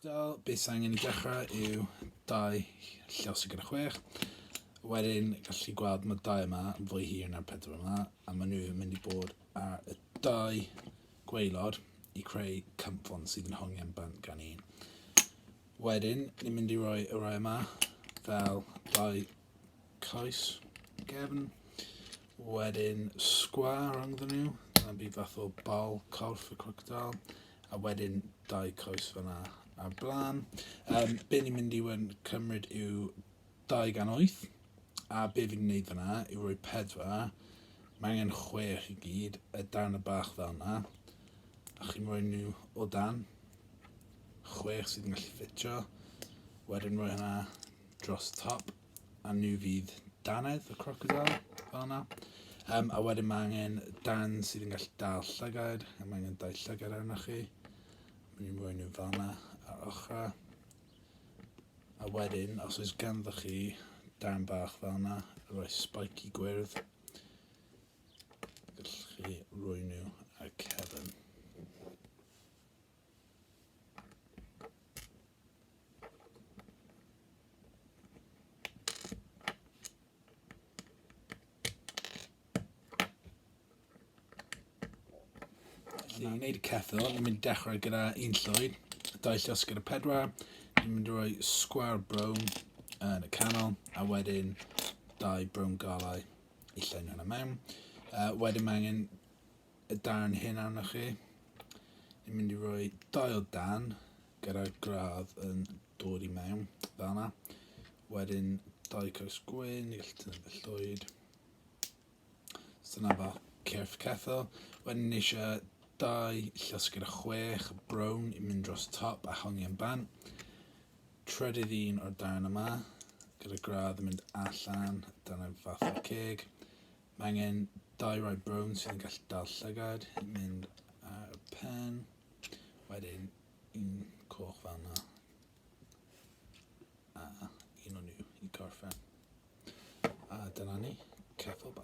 Lockdown, beth sy'n angen i dechrau yw dau llaw sy'n gyda chwech. Wedyn, gallu chi gweld mae dau yma yn fwy hir na'r pedwar yma, a maen nhw yn mynd i bod ar y dau gweilod i creu cymffon sydd yn hongen bant gan un. Wedyn, ni'n mynd i roi y rai yma fel dau coes gefn. Wedyn sgwar rhwngddyn nhw, dyna bydd fath o bal corff y crocodile. A wedyn dau coes fyna a blaen. Um, be ni'n mynd i wen cymryd yw 208 a be fi'n gwneud fyna yw rhoi pedwar mae angen chwech i gyd y darn y bach fel yna a chi'n rhoi nhw o dan chwech sydd yn gallu ffitio wedyn rhoi hynna dros top a nhw fydd dannedd y crocodile fel yna. Um, a wedyn mae angen dan sydd yn gallu dal llygaid, a mae angen dau llygaid arno chi. Mae ni'n rhoi nhw fel yna ar ochrau. A wedyn, os oes ganddo chi dan bach fel yna, rhoi spiky gwyrdd, gallwch chi rhoi nhw ar cefn. Felly, i wneud y cethol, ni'n mynd i dechrau gyda un llwyd, dau llos gyda pedwar, ni'n mynd i roi sgwar brown yn y canol, a wedyn dau brown galau i llenio hwnna mewn. Uh, wedyn mae angen y darn hyn arnoch chi. Ni'n mynd i roi dau o dan gyda'r gradd yn dod i mewn, fel yna. Wedyn dau caws gwyn, ni'n gallu tynnu fe llwyd. So yna fel cyrff cethel. Wedyn ni eisiau dau llysgyd a chwech brown i mynd dros top a hongi yn ban. Trydydd un o'r darn yma, gyda gradd yn mynd allan, dyna fath o'r ceg. Mae angen dau rai brown sydd yn gallu dal llygad, mynd ar y pen, wedyn un coch fel yna, a un o'n nhw i gorffen. A dyna ni, ceffyl bach.